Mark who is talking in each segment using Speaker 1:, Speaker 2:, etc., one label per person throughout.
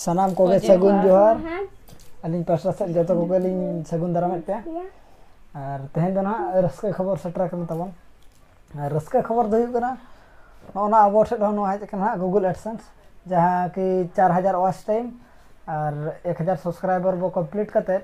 Speaker 1: ᱥᱟᱱᱟᱢ ᱠᱚᱜᱮ ᱥᱟᱹᱜᱩᱱ ᱡᱚᱦᱟᱨ ᱟᱹᱞᱤᱧ ᱯᱟᱥᱴᱟ ᱥᱮᱫ ᱡᱚᱛᱚ ᱠᱚᱜᱮ ᱞᱤᱧ ᱥᱟᱹᱜᱩᱱ ᱫᱟᱨᱟᱢᱮᱫ ᱯᱮᱭᱟ ᱟᱨ ᱛᱮᱦᱮᱧ ᱫᱚ ᱱᱟᱦᱟᱜ ᱨᱟᱹᱥᱠᱟᱹ ᱠᱷᱚᱵᱚᱨ ᱥᱮᱴᱮᱨ ᱟᱠᱟᱱ ᱛᱟᱵᱚᱱ ᱟᱨ ᱨᱟᱹᱥᱠᱟᱹ ᱠᱷᱚᱵᱚᱨ ᱫᱚ ᱦᱩᱭᱩᱜ ᱠᱟᱱᱟ ᱱᱚᱜᱼᱚ ᱱᱟ ᱟᱵᱚ ᱴᱷᱮᱱ ᱦᱚᱸ ᱱᱚᱣᱟ ᱦᱮᱡ ᱟᱠᱟᱱᱟ ᱦᱟᱸᱜ ᱜᱩᱜᱩᱞ ᱮᱰᱥᱮᱱᱥ ᱡᱟᱦᱟᱸ ᱠᱤ ᱪᱟᱨ ᱦᱟᱡᱟᱨ ᱳᱣᱟᱪ ᱴᱟᱭᱤᱢ ᱟᱨ ᱮᱠ ᱦᱟᱡᱟᱨ ᱥᱟᱵᱥᱠᱨᱟᱭᱵᱟᱨ ᱵᱚᱱ ᱠᱚᱢᱯᱞᱤᱴ ᱠᱟᱛᱮᱫ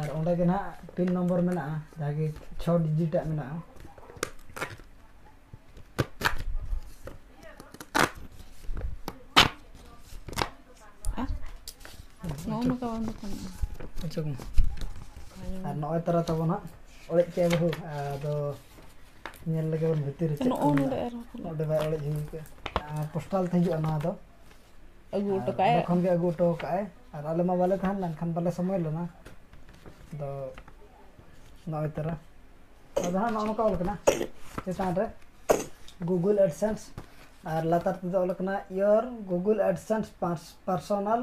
Speaker 1: ᱟᱨ ᱚᱸᱰᱮ ᱜᱮ ᱱᱟᱦᱟᱜ ᱯᱤᱱ ᱱᱚᱢᱵᱚᱨ ᱢᱮᱱᱟᱜᱼᱟ ᱡᱟᱦᱟᱸ ᱜᱮ ᱪᱷᱚ ᱰᱤᱡᱤᱴᱟᱜ ᱢᱮᱱᱟᱜᱼᱟ
Speaker 2: ᱟᱪᱪᱷᱟ
Speaker 1: ᱟᱨ ᱱᱚᱜᱼᱚᱭ ᱛᱟᱨᱟ ᱛᱟᱵᱚᱱ ᱦᱟᱸᱜ ᱚᱲᱮᱡ ᱠᱮᱫᱼᱟ ᱵᱟᱹᱦᱩ ᱟᱫᱚ ᱧᱮᱞ ᱞᱮᱜᱮ ᱵᱚᱱ ᱵᱷᱤᱛᱤᱨ ᱨᱮ ᱪᱮᱫ ᱠᱚ ᱢᱮᱱᱟᱜᱼᱟ ᱚᱸᱰᱮ ᱵᱟᱭ ᱚᱲᱮᱡ ᱦᱩᱭ ᱠᱟᱜᱼᱟ ᱯᱳᱥᱴᱟᱞ ᱛᱮ ᱦᱤᱡᱩᱜᱼᱟ ᱱᱚᱣᱟ ᱫᱚ ᱟᱹᱜᱩ ᱦᱚᱴᱚ
Speaker 2: ᱠᱟᱜᱼᱟᱭ ᱚᱸᱰᱮ ᱠᱷᱚᱱ ᱜᱮ ᱟᱹᱜᱩ ᱦᱚᱴᱚ ᱠᱟᱜᱼᱟᱭ
Speaker 1: ᱟᱨ ᱟᱞᱮ ᱢᱟ ᱵᱟᱞᱮ ᱛᱟᱦᱮᱸ ᱞᱮᱱᱟ ᱮᱱᱠᱷᱟᱱ ᱵᱟᱞᱮ ᱥᱚᱢᱚᱭ ᱞᱮᱱᱟ ᱟᱫᱚ ᱱᱚᱜᱼᱚᱭ ᱛᱚᱨᱟ ᱟᱫᱚ ᱦᱟᱸᱜ ᱱᱚᱜᱼᱚ ᱱᱚᱝᱠᱟ ᱚᱞ ᱠᱟᱱᱟ ᱪᱮᱛᱟᱱ ᱨᱮ ᱜᱩᱜᱩᱞ ᱮᱰᱥᱮᱱᱥ ᱟᱨ ᱞᱟᱛᱟᱨ ᱛᱮᱫᱚ ᱚᱞ ᱠᱟᱱᱟ ᱤᱭᱳᱨ ᱜᱩᱜᱩᱞ ᱮᱰᱥᱮᱱᱥ ᱯᱟᱨᱥᱚᱱᱟᱞ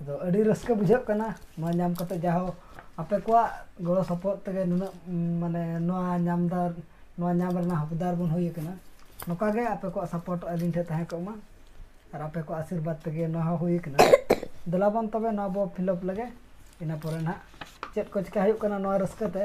Speaker 1: ᱟᱫᱚ ᱟᱹᱰᱤ ᱨᱟᱹᱥᱠᱟᱹ ᱵᱩᱡᱷᱟᱹᱜ ᱠᱟᱱᱟ ᱱᱚᱣᱟ ᱧᱟᱢ ᱠᱟᱛᱮ ᱡᱟᱦᱳᱠ ᱟᱯᱮ ᱠᱚᱣᱟᱜ ᱜᱚᱲᱚ ᱥᱚᱯᱚᱦᱚᱫ ᱛᱮᱜᱮ ᱱᱩᱱᱟᱹᱜ ᱢᱟᱱᱮ ᱱᱚᱣᱟ ᱧᱟᱢ ᱫᱚ ᱱᱚᱣᱟ ᱧᱟᱢ ᱨᱮᱱᱟᱜ ᱦᱚᱠᱫᱟᱨ ᱵᱚᱱ ᱦᱩᱭ ᱟᱠᱟᱱᱟ ᱱᱚᱝᱠᱟ ᱜᱮ ᱟᱯᱮ ᱠᱚᱣᱟᱜ ᱥᱟᱯᱚᱨᱴ ᱟᱹᱞᱤᱧ ᱴᱷᱮᱱ ᱛᱟᱦᱮᱸ ᱠᱚᱜ ᱢᱟ ᱟᱨ ᱟᱯᱮ ᱠᱚᱣᱟᱜ ᱟᱥᱤᱨᱵᱟᱫᱽ ᱛᱮᱜᱮ ᱱᱚᱣᱟ ᱦᱚᱸ ᱦᱩᱭ ᱟᱠᱟᱱᱟ ᱫᱮᱞᱟ ᱵᱚᱱ ᱛᱚᱵᱮ ᱱᱚᱣᱟ ᱵᱚᱱ ᱯᱷᱤᱞᱟᱯ ᱞᱮᱜᱮ ᱤᱱᱟᱹ ᱯᱚᱨᱮ ᱱᱟᱦᱟᱜ ᱪᱮᱫ ᱠᱚ ᱪᱤᱠᱟᱹ ᱦᱩᱭᱩᱜ ᱠᱟᱱᱟ ᱱᱚᱣᱟ ᱨᱟᱹᱥᱠᱟᱹ ᱛᱮ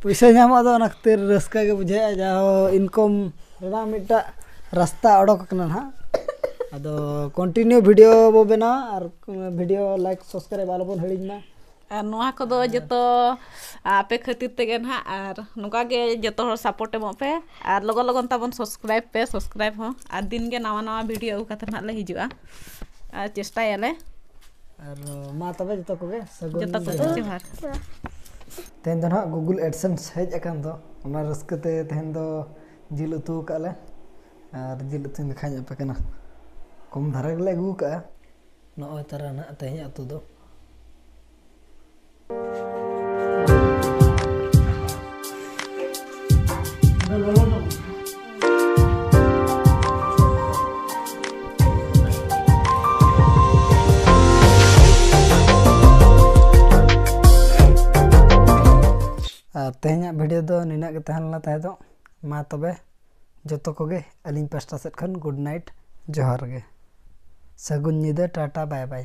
Speaker 1: ᱯᱚᱭᱥᱟ ᱧᱟᱢᱚᱜ ᱫᱚ ᱚᱱᱟ ᱠᱷᱟᱹᱛᱤᱨ ᱨᱟᱹᱥᱠᱟᱹ ᱜᱮ ᱵᱩᱡᱷᱟᱹᱜᱼᱟ ᱡᱟᱦᱳ ᱤᱱᱠᱚᱢ ᱨᱮᱱᱟᱜ ᱢᱤᱫᱴᱟᱜ ᱨᱟᱥᱛᱟ ᱚᱰᱚᱠ ᱠᱟᱱᱟ ᱦᱟᱸᱜ ᱟᱫᱚ ᱠᱚᱱᱴᱤᱱᱤᱭᱩ ᱵᱷᱤᱰᱤᱭᱳ ᱵᱚ ᱵᱮᱱᱟᱣᱟ ᱟᱨ ᱵᱷᱤᱰᱤᱭᱳ ᱞᱟᱭᱤᱠ ᱥᱟᱵᱥᱠᱨᱟᱭᱤᱵᱽ ᱟᱞᱚ ᱵᱚᱱ ᱦᱤᱲᱤᱧ ᱢᱟ ᱟᱨ ᱱᱚᱣᱟ ᱠᱚᱫᱚ
Speaker 2: ᱡᱚᱛᱚ ᱟᱯᱮ ᱠᱷᱟᱹᱛᱤᱨ ᱛᱮᱜᱮ ᱱᱟᱦᱟᱜ ᱟᱨ ᱱᱚᱝᱠᱟ ᱜᱮ ᱡᱚᱛᱚ ᱦᱚᱲ ᱥᱟᱯᱳᱨᱴ ᱮᱢᱚᱜ ᱯᱮ ᱟᱨ ᱞᱚᱜᱚᱱ ᱞᱚᱜᱚᱱ ᱛᱟᱵᱚᱱ ᱥᱟᱵᱥᱠᱨᱟᱭᱤᱵᱽ ᱯᱮ ᱥᱟᱵᱥᱠᱨᱟᱭᱤᱵᱽ ᱦᱚᱸ ᱟᱨ ᱫᱤᱱ ᱜᱮ ᱱᱟᱣᱟ ᱱᱟᱣᱟ ᱵᱷᱤᱰᱤᱭᱳ ᱟᱹᱜᱩ ᱠᱟᱛᱮ ᱱᱟᱦᱟᱜ ᱞᱮ ᱦᱤᱡᱩᱜᱼᱟ ᱟᱨ ᱪᱮᱥᱴᱟᱭᱟᱞᱮ ᱟᱨ
Speaker 1: ᱢᱟ ᱛᱚᱵᱮ ᱡᱚᱛᱚ ᱠᱚᱜᱮ ᱥᱟᱹᱜᱩᱱ ᱡᱚᱛᱚ ᱠᱚ ᱡᱚᱦᱟᱨ᱾ ᱡᱚᱦᱟᱨ ᱛᱮᱦᱮᱧ ᱫᱚ ᱱᱟᱦᱟᱜ ᱜᱩᱜᱩᱞ ᱮᱰᱥᱮᱱᱥ ᱦᱮᱡ ᱟᱠᱟᱱ ᱫᱚ ᱚᱱᱟ ᱨᱟᱹᱥᱠᱟᱹ ᱛᱮ ᱛᱮᱦᱮᱧ ᱫᱚ ᱡᱤᱞ ᱩᱛᱩ ᱟᱠᱟᱫ ᱞᱮ ᱟᱨ ᱡᱤᱞ ᱩᱛᱩᱧ ᱫᱮᱠᱷᱟᱧ ᱟᱯᱮ ᱠᱟᱱᱟ ᱠᱚᱢ ᱫᱷᱟᱨᱟ ᱜᱮᱞᱮ ᱟᱹᱜᱩ ᱟᱠᱟᱫᱼᱟ ᱱᱚᱜᱼᱚᱭ ᱛᱟᱨᱟ ᱱᱟᱦᱟᱜ ᱛᱮᱦᱮᱧᱟᱜ ᱩᱛᱩ ᱫᱚ ᱟᱨ ᱛᱮᱦᱮᱧᱟᱜ ᱵᱷᱤᱰᱤᱭᱳ ᱫᱚ ᱱᱤᱱᱟᱹᱜ ᱜᱮ ᱛᱟᱦᱮᱸ ᱞᱮᱱᱟ ᱛᱟᱦᱮᱸ ᱫᱚ ᱢᱟ ᱛᱚᱵᱮ ᱡᱚᱛᱚ ᱠᱚᱜᱮ ᱟᱹᱞᱤᱧ ᱯᱟᱥᱴᱟ ᱥᱮᱫ ᱠᱷᱚᱱ ᱜᱩᱰ ᱱᱟᱭᱤᱴ ᱡᱚᱦᱟᱨ ᱜᱮ ᱥᱟᱹᱜᱩᱱ ᱧᱤᱫᱟᱹ ᱴᱟᱴᱟ ᱵᱟᱭ ᱵᱟᱭ